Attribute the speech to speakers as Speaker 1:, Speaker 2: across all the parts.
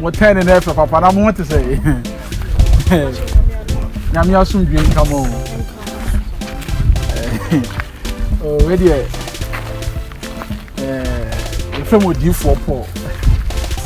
Speaker 1: mo tɛn ne na ɛfɛ papa na mo ho te sɛ nyame asomdwe nka mo o wedeɛ yɛfrɛ mo odiifoɔ paul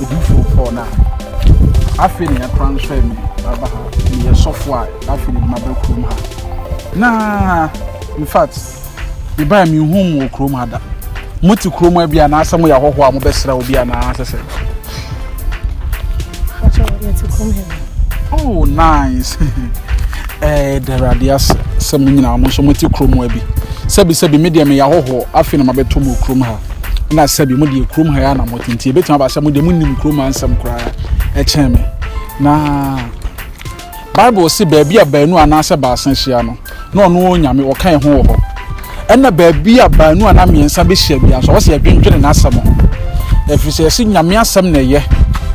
Speaker 1: odiifoɔ paul no a afei ne yɛkora nso me aba ha meyɛ sɔfoɔ a afei ne mabɛ kurom ha na in fact Mebaeɛ menhuu mo wɔ kurom ha da. Mote kurom ha bi anaasɛ moyɛ ahɔhoɔ a mobɛsra obi anaa sɛ sɛ? Oh, nice. Eh, Awurade ase sɛ mo nyinaa mo nso mote kurom ha bi. Sɛbisɛbi me deɛ meyɛ ahɔhoɔ afei na mabɛto mo kurom ha. Na sɛbi mo deɛ kurom ha yɛ na mote nti ɛbɛtumi aba sɛ mo deɛ monim kurom ha nsɛm koraa ɛkyɛn me. Na Bible se baabi a baanu anaasɛ baasa ahyia no, na ɔno ara Onyame, ɔka yɛn ho wɔ hɔ. Ɛnna baabi a baanu anaa mmiɛnsa behyia biara nso, ɔwɔ sɛ yɛdwendwene N'asɛm ho, ɛfiri sɛ yɛse Nyame Asɛm na ɛyɛ.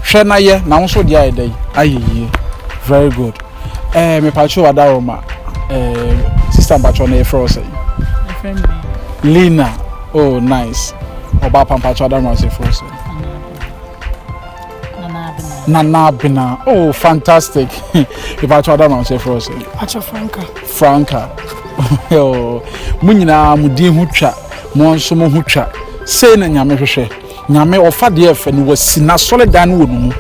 Speaker 1: Hwɛ na yɛ, na wo nso wo deɛ ayɛ dɛn? Ayɛ yie. Very good. Eh, mepakyɛw Adaworoma, eh, sister mpakyɛw na yɛfrɛ wo sɛn? Yɛfrɛ me Lina. Lina, oh nice. Ɔbaa pa mpakyɛw Adaworoma nso yɛfrɛ wo sɛn? Nana Abena. Oh, fantastic. If I told them, I'll say for us. Acha Franca.
Speaker 2: Franca.
Speaker 1: Oh, mo nyinaa mo din ho twa, mo nso mo ho twa. Sei na Nyame hwehwɛ. Nyame ɔfa deɛ ɛfɛ no wasi n'asɔredan no wɔ no mu.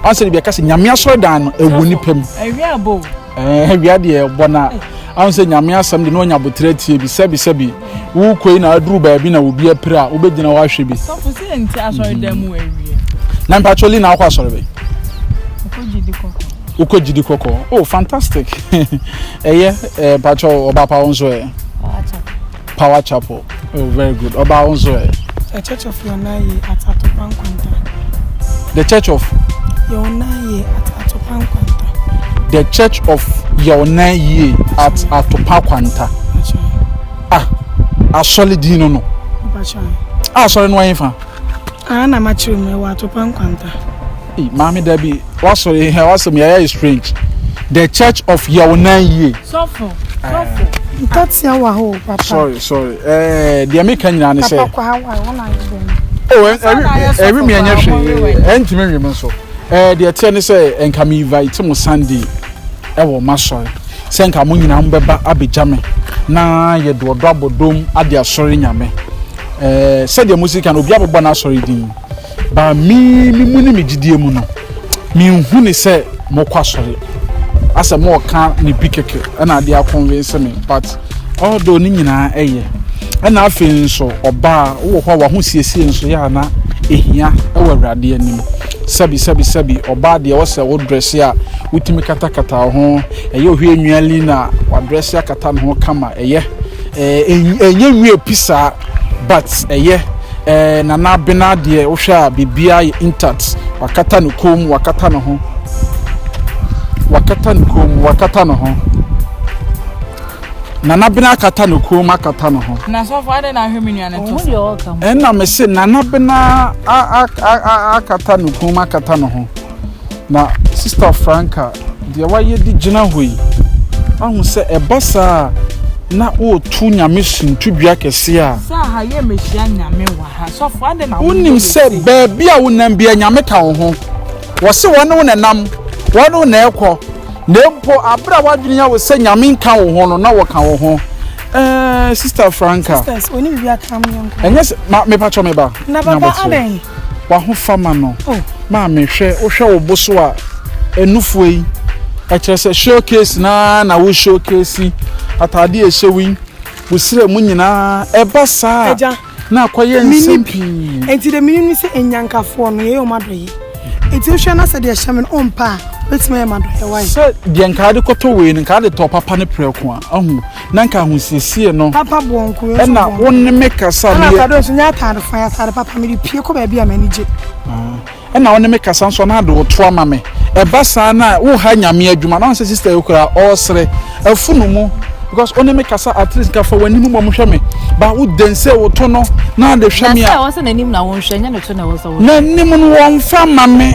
Speaker 1: Ɔnsɛ de bi ɛka sɛ Nyame asɔredan no ɛwɔ nipa mu. Awia bo.
Speaker 2: Ɛɛ awia deɛ
Speaker 1: ɛbɔ na. Ɔnsɛ Nyame asɛm de na ɔnya botere atie bi sɛbi sɛbi. wokɔi na aduru baabi na obi apira a wobɛgyina hɔ ahwɛ bi sɔfo sɛ ɛnti asɔre
Speaker 2: dan mu awie na mpatwɔ li na
Speaker 1: akɔ asɔre bɛ
Speaker 2: wokɔ gyidi kɔkɔɔ oh fantastic
Speaker 1: ɛyɛ eh, mpatwɔ ɔba pa wo nso ɛ power chapel oh very good ɔba wo nso ɛ
Speaker 2: The
Speaker 1: Church of Yɔnaye
Speaker 2: at Atopa Nkwanta. The
Speaker 1: Church of. Yɔnaye at Atopa Nkwanta. The Church of Yɔnaye at Atopa Kwanta. Ah, asɔre din no no. Ah, asɔre no ayɛ fa. Ah, na
Speaker 2: makyerɛ mu ɛwɔ Atopa Nkwanta. Hey, maame
Speaker 1: dabi wasɔre hɛ wasɛm yɛ ayɛ strange the church of yɛwonan yie. sɔfo
Speaker 2: sɔfo. ntɔtea wɔ hɔ o papa. sorry sorry ɛɛ
Speaker 1: eh, deɛ mi ka nyinaa ne sɛ. papa kɔ ha wa wɔn ayɛ dɛm. o oh, ɛwi eh, eh, mi ɛnyɛ hwee ɛntumi nwi mi nso ɛɛ deɛ teɛ ne sɛ nka mi invite mo sunday ɛwɔ ma sɔre sɛ nka mo nyinaa mo bɛba abɛgya mi na yɛ doɔdɔ abɔdom adi asɔre nyame ɛɛ sɛdeɛ mo si kan obi abɛbɔ n'asɔre din. Ba me me mu ne me gyidie mu no, menhu ne sɛ mokɔ asɔre. Asɛ mo ɔka ne bi kɛkɛ ɛna ade akɔnvense me but although ne nyinaa ɛyɛ ɛna afei nso ɔbaa wowɔ hɔ a wahosiesie nso yɛ a na ɛhia ɛwɔ awurade anim sɛbi sɛbi sɛbi ɔbaa deɛ wɔ sɛ wo drɛse a wotumi katakata wo ho ɛyɛ ohwɛ nnuali na wadrɛse akata ne ho kama ɛyɛ ɛnyɛ nwie pi saa But ɛyɛ eh Nana Abena deɛ wohwɛ a biribiara yɛ intact wakata ne kɔn mu wakata ne ho wakata ne kɔn mu wakata ne ho Nana Abena akata ne kɔn mu akata ne ho Na sɔfo adɛ na ahwɛ me
Speaker 2: nua ne to Ɔhu deɛ ɔreka ho. ɛna me se Nana
Speaker 1: Abena a- a- a- a- akata ne kɔn mu akata ne ho. Na Sista Franca, deɛ wayɛ de gyina hɔ yi, ahu sɛ ɛba saa a, na woreto Nyame som to dua kɛseɛ a. Sɛ aha yɛ mɛhyia
Speaker 2: Nyame wɔ ha, sɔfo adɛn na wo ne yɛ sei. Wonim sɛ baabi
Speaker 1: a wonam bia Nyame ka wo ho, wɔse wɔne wo na ɛnam, wɔne wo na ɛkɔ, na mpo aberɛ a w'adwene ya wo sɛ Nyame nka wo ho no, na wɔka wo ho. Ɛɛɛ Sista Franca. Sisters, wɔne biribi aka
Speaker 2: mo yɛnkɔ. Ɛnyɛ sɛ, ma, mepatwɔ
Speaker 1: me ba. Na papa adɛn?
Speaker 2: W'ahofama
Speaker 1: no, maame, hwɛ, wohwɛ wo bo so a, nufoɔ yi, ɛkyerɛ sɛ showcase no ara na wo showcase ataadeɛ a ɛhyɛ wo yi, wo srɛ mu nyinaa, ɛba saa a, na akɔyɛ nsɛm pii. Enti deɛ menim
Speaker 2: ne sɛ nnyankafoɔ no, yɛyɛ wɔn adɔeɛ. Enti wohwɛ na sɛ deɛ ɛhyɛ me no wompɛ a, wobɛtumi ayɛ m'adɔeɛ, woayɛ. Sɛ deɛ nka wode
Speaker 1: kɔtɔ wei no, nka wode tɔɔ papa no prɛko a, wahu. na nka ahosiesie no papa boɔ nko yɛ ɛna
Speaker 2: wo ne me
Speaker 1: kasa ɛna afɛdo nso nyɛ ataade
Speaker 2: fo ataade papa mi de pie kɔ baabi a m'ani gye ah, ɛna
Speaker 1: wo ne me kasa nso na ade woto ama me ɛba saa na wo ha nyame adwuma na ɔnsɛ sista yi kura ɔresere afunu mu because wo ne me kasa at least nka fa w'anim bɔ mo hwɛ me ba wo den sɛ woto no na ade hwɛ me a na sɛ wɔsɛ n'anim na wɔnhwɛ
Speaker 3: nyɛ ne to na wɔsɛ wɔn n'anim no wɔn
Speaker 1: fa ma me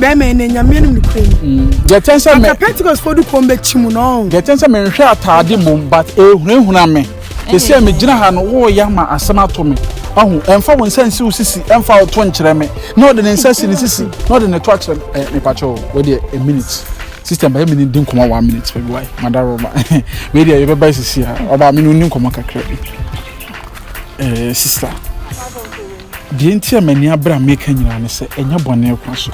Speaker 2: bɛrima ɛnɛ nyame anim nokorɛ ni mm. deɛ ɛtɛn sɛ mɛ
Speaker 1: pentecostefoɔ de kɔm bɛkyi
Speaker 2: mu no deɛ ɛtɛn sɛ menhwɛ
Speaker 1: ataade mmom but ɛhunahuna me te sɛ megyina ha no woyɛ ama asɛm ato me ahu ɛmfa wo nsa nsi wo sisi ɛmfa wo to nkyerɛ me na ɔde ne nsa si ne sisi na ɔde ne to akyerɛ me eh, mepakyɛ wo wɔdeɛ a minute system bɛyɛ mene di nkɔmmɔ one minute baabi wae madaro ma wei deɛ yɛbɛba sisi a ɔbaa mene ɔni nkɔmmɔ kakra bi eh, sister Deɛ enti a m'ani abere a meka nyinaa ne sɛ ɛnyɛ bɔne kwa so.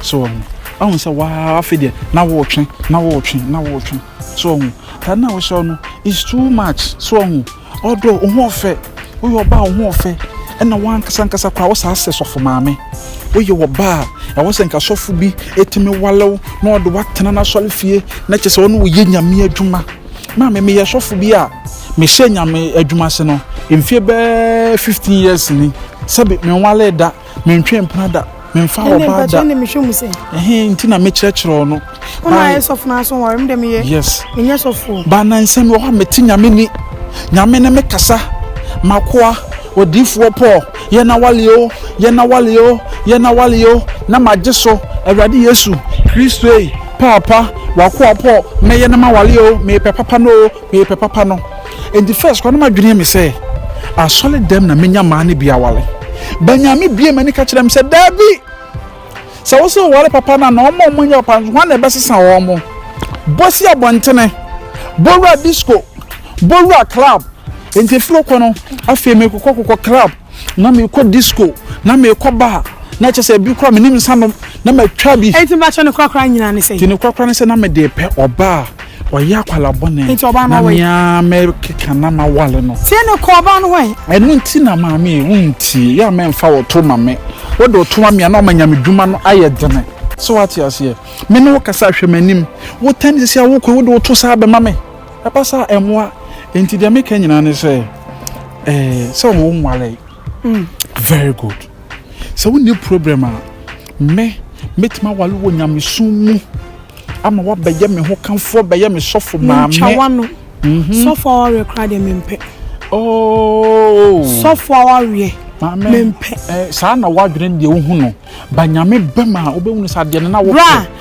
Speaker 1: So ɔho. Ahu sɛ waa afei deɛ na wɔretwe na wɔretwe na wɔretwe. So ɔho. Taa na wɔhyɛ no is too much. So ɔho. Ɔdɔ ɔho ɔfɛ. Woyɛ ɔbaa ɔho ɔfɛ. Ɛna wankasa nkasa koraa wɔ saa sɛ sɔfo maame. Woyɛ ɔbaa ɛwɔ sɛ nka sɔfo bi ɛtumi walew na ɔde watena n'asɔre fie na kyɛ sɛ ɔne wo yɛ nyame adwuma. Na me meyɛ sɔfo bi a mehyɛ Nyame adwuma ase no mfie bɛɛ fifteen years ni. Sɛbe menwalee da, mentwee mpena da, memfaa Ɛnde ɔbaa mpakyɛ da. ne mehwɛ mu sɛ Ɛhe nti na mekyerɛkyerɛ wo no? wo na Ba, ayɛ sɔfo no
Speaker 2: aso nware me dɛ meyɛ yes. menyɛ sɔfo o.
Speaker 1: Ba
Speaker 2: na nsɛm bi wɔ hɔ a
Speaker 1: mete Nyame ni. Nyame ne me kasa. M'akoa, odiyifoɔ Paul, Yɛ n'awale o, yɛ n'awale o, yɛ n'awale o, na magye so, Awurade Yesu Kristo ei, Paapa, w'akoa pɔ, mɛyɛ no m'awale o, mepɛ papa no o, mepɛ papa no. Enti first kora na m'adwene yɛ me sɛ, asɔre dɛm na menya mmaa no bi awale, but Nyame bue m'ani ka kyerɛɛ me sɛ, Daabi! Sɛ wo so ware papa no a na wɔn a wɔnyɛ papa nso hwan na ɛbɛsesa wɔn? Bɔ si abɔntene, bɔ wura disco, bɔ wura club. Enti ɛfiri hɔ kɔ no, afei mekokɔ kokɔ club, na mekɔ disco, na mekɔ bar, na ɛkyɛ sɛ ɛbi koraa menim nsa nom, na matwa bi. Enti mpakyɛw ne korakora nyinaa
Speaker 2: ne sɛn? Enti ne korakora ne sɛ na mede
Speaker 1: repɛ ɔbaa. Ɔyɛ akwadaa bɔne. Nti ɔbaa no wɔ yi.
Speaker 2: Na mea mɛkeka
Speaker 1: na ma wale no. Tie ne kɔ ɔbaa no wɔ yi.
Speaker 2: Ɛno nti na maame
Speaker 1: yi wo ntie yɛ a mɛmfa wo to ma me. Wo de wo to ma me a na ɔma nyame dwuma no ayɛ dene. So wate aseɛ? Me ne wo kasa hwɛ m'anim. Wo tɛn ne sisi a wo kɔ yi wo de wo to saa bɛma me. Ɛba saa ɛmoa. Nti deɛ meka nyinaa ne sɛ eh sɛ ɔmo nwale. Very good. Sɛ wonni problem a, me, mɛtumi aware wɔ nyamesom mu ama wabɛyɛ me ho kamfoɔ, bɛyɛ me sɔfo maame. Mentwa wano.
Speaker 2: Mhm. Sɔfo awareɛ koraa deɛ mempɛ. Oh.
Speaker 1: Sɔfo
Speaker 2: awareɛ. Maame. Mempɛ. Eh, saa na
Speaker 1: wadwene deɛ wohu no. Ba nyame bɛm a, wobɛhunu sɛ adeɛ no na wopɛ. Bra.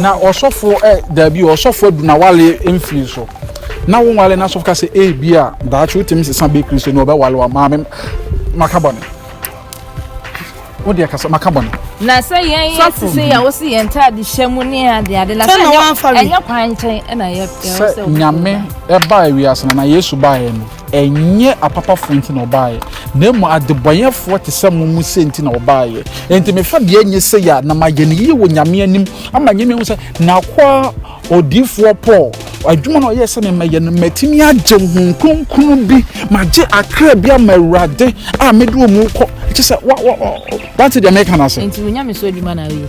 Speaker 1: Na ɔsɔfoɔ ɛ daabi o ɔsɔfoɔ adu na wale mfiri so na wo nwale na asɔfo ka sɛ ee bi a daakye wotumi sesa bɛ kristo na ɔbɛwale wa maame maka bɔne wo deɛ kasa maka bɔne. Na sɛ yɛn
Speaker 3: yɛ te sɛ yɛ wo se yɛn ntaade hyɛ mu ne ade ade na sɛ ɛnyɛ kwan nkyɛn ɛna yɛ sɛ nyame
Speaker 1: ɛbaa wiase na na yesu baeɛ no Ɛnyɛ apapafoɔ nti na wɔbaeɛ, na mmom adebɔneyɛfoɔ te sɛ mo mu sɛ nti na wɔbaeɛ. Enti me fabea nyɛ sei a, na mayɛ no yie wɔ Nyame anim, ama Nyame ahu sɛ n'akoa odiyifoɔ Paul, adwuma no a ɔyɛɛ sɛ me mɛyɛ no, matumi agye Honhom Kronkron bi, magye akra bi ama Awurade a mede wɔn rekɔ. Kyerɛ sɛ, wa, wa, wa, wate deɛ mereka no ase? Enti wo nyamesu adwuma na
Speaker 3: woyɛ?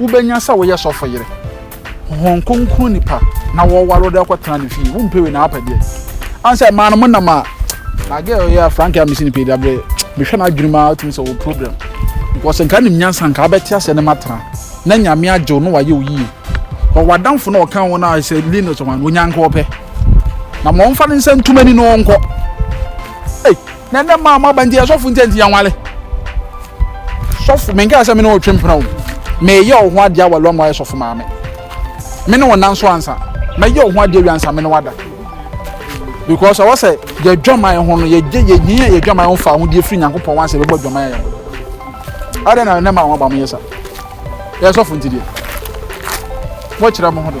Speaker 1: Wobɛnya sɛ woyɛ sɔfo yere, Honhom Kronkron nipa na wɔware wode akɔtena ne fie, wompɛ wei na wapɛ deɛ. Ane sɛ mmaa no mo nam a, na girl yɛ a Frank a mesi ne pɛ da berɛ, mehwɛ no adwene mu a wotumi sɛ wɔ problem. Because nka nim nyansa nka wobɛte aseɛ ne matena na nyame agye wo na wayɛ wo yie. Kɔ w'adamfo na ɔka wo na sɛ Linus ɔman wɔnya nka ɔpɛ. Na ma ɔmfa ne nsa ntum ani na ɔnkɔ. Hey! Na ɛnɛ mmaa mo aba nti yɛ sɔfo nti nti yɛn wale. Sɔfo menka sɛ me ne ɔtwe mpena o. Meyɛ ɔho adeɛ awale ama ayɛ sɔfo maame. Me ne ɔnan so ansa. Mɛyɛ ɔho adeɛ wia ansa me ne wada. Because ɔwɔ sɛ yɛ dwaman ho no yɛgye yɛnyia yɛ dwaman ho fa ahodeɛ firi Nyankopɔn wansa yɛbɛbɔ dwaman yɛ ho. Adɛn na ɛnɛ mmaa mo aba mo yɛ sa. Yɛ sɔfo nti deɛ. Wɔkyerɛ mo ho do.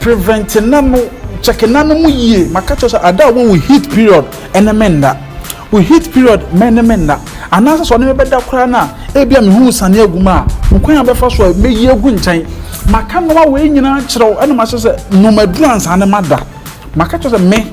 Speaker 1: Prevent n'ano, check n'ano mu yie. Maka kyerɛ sɛ ada a wɔ wo heat period ɛne me nna. Wo heat period mɛne me nna. Anaasɛ sɛ ɔne me bɛda koraa no a, ebi a mehu sane agu mu a, hokwan a bɛfa so a mɛyi agu nkyɛn. Maka nnoɔma wei nyinaa kyerɛ wo ɛna mahyɛ sɛ nom aduru ansa ne mada. Maka kyerɛ sɛ me.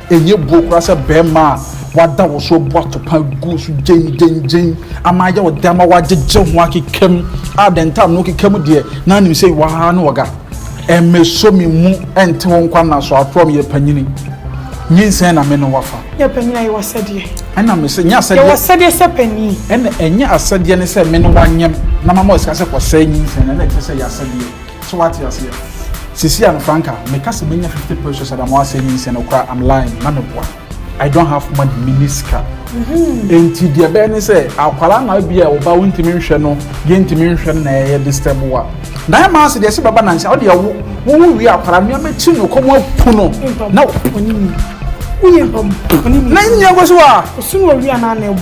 Speaker 1: Ɛnyɛ buo koraa sɛ barima a wada wo so abu atɔpa agu wo so gyengyenngyen ama ayɛ wo dɛ ama woagyegye ho akeka mu a the time no wokeka mu deɛ na anim sɛ iwɔ ha ne ɔga. Ɛmmɛsɔ me mu nte wo nkwa nna so atorɔ meyɛ panyini. Nyinsɛn na me ne wo afa. Nyɛ panyini a yɛwɔ
Speaker 2: asɛdeɛ. Ɛna me se nyɛ asɛdeɛ.
Speaker 1: Yɛwɔ asɛdeɛ sɛ panyini.
Speaker 2: Ɛna ɛnyɛ asɛdeɛ
Speaker 1: ne sɛ me ne wo anyem na mama wo sika sɛ kɔsɛe nyinsɛn no ɛna ɛkyerɛ sɛ ɛyɛ asɛdeɛ. So wate aseɛ? Sisi a no franka, meka sɛ menya 50 pesos Adamoa asɛ nyi nsɛ no koraa I'm lying, na me boa. I don't have money, me ni sika. Mm-hmm. Enti deɛ bɛyɛ ne sɛ akwara na bi a ɔba wontumi nhwɛ no, deɛ ntumi nhwɛ no na ɛyɛ disturb wa. Na ɛma ase deɛ sɛ bɛba nansa, ɔde ɛwo, wo wo wie akwara nneɛma ti no kɔm apu no. Na wo. Woyɛ mpam. Na nyɛ kɔ so a. Ɔsunu ɔwia na na ɛbu.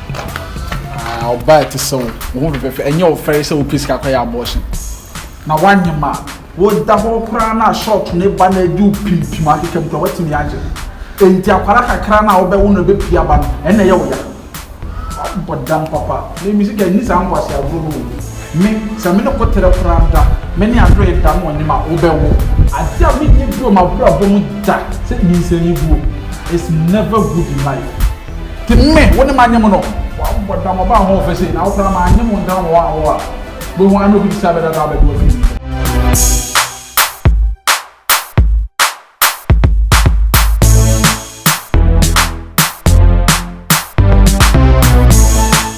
Speaker 2: Ah,
Speaker 1: ɔbaa ɛte sɛ wo, wo ho fɛfɛɛfɛ, ɛnyɛ wo fɛre sɛ wopɛ sika kɔyɛ abortion. Na woanyem a, woda hɔ koraa na short ne ba na adi wo pimpim akeka mu koraa woatumi agye. Enti akwara kakra no a wobɛwo no ɛbɛpie aba no, ɛnna ɛyɛ wo ya. Abɔ dam papa, me me sika nni saa nkwasi agorɔ no o. Me, sɛ me ne koterɛ koraa da, me ne adoe da na ɔnyem a, wobɛwo. Adeɛ a mennye bio m'abrabɔ mu da sɛ nyinsɛn yi guo. It's never good in life. Nti me, wo ne manyem no. Wabɔ dam ɔbaa ho ɔfɛ sei, na wo koraa manyem wo ntam wɔ hɔ a, wo a. Wobɛhu ara na obi bisa bɛdada abɛde w'afiri mu.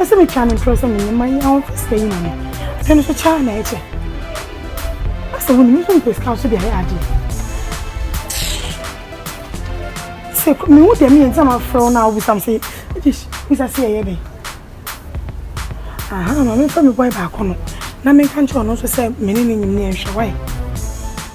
Speaker 2: Ɔsɛ mi twa ne ntorɔ sɛ menyɛ ma yi ahofɛ sika yi ma me. Afei no so kyaa na ɛkyɛ. Ɔsɛ wo ne me nso mpɛ sika so de ayɛ adeɛ. Sɛ me hu deɛ meyɛ nti na mafrɛ wo na wobisa me sɛ British bisa sɛ yɛyɛ dɛn. Aha ma memfa me boy baako no na menka nkyerɛ ɔno nso sɛ me ne ne nyim ne yɛnhwɛ wae.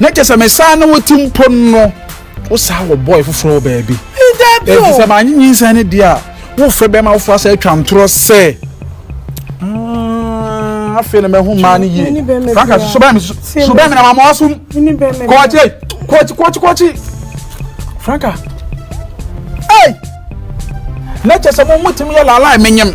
Speaker 1: na kyɛ sɛ mesaa ne wo ti mpo no wosaa wɔ bɔe foforɔ wɔ baabi ɛnti sɛ maanye nyinsɛn no deɛ a wofrɛ bɛma wofoɔ asɛ atwa ntorɔ sɛ mm, afei na mahu maa no yie franka so bɛn me so bɛn me na mama wasom kɔɔkye kɔɔkye kɔɔkye kɔɔkye franka ei na kyɛ sɛ mo motumi yɛ laalaa menyem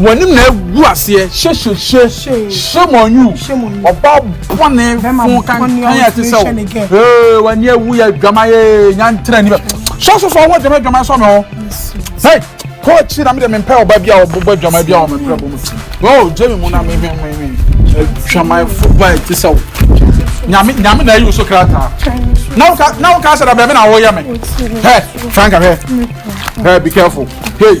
Speaker 1: W'anim na agu aseɛ hyɛhyɛhyɛ shame on you ɔba bɔne fo kankan a ɛte sɛ wo ee w'ani awu yɛ adwamayɛ nyantere ani bɛ sɔsɔsɔ ɔwɔ adwamayɛ adwamayɛ sɔ me hɔ hei kɔɔkyi na mede mempɛ ɔba bi a ɔbobɔ adwamayɛ bi a ɔmɛ brɛ bɔ mu ti o gye me mu na mehwɛ mehwɛ adwamayɛfo ba ɛte sɛ wo nyame nyame na ayi wo so krataa na woka na woka sɛ da bɛme na woyɛ me hɛ franka hwɛ hɛ be careful hei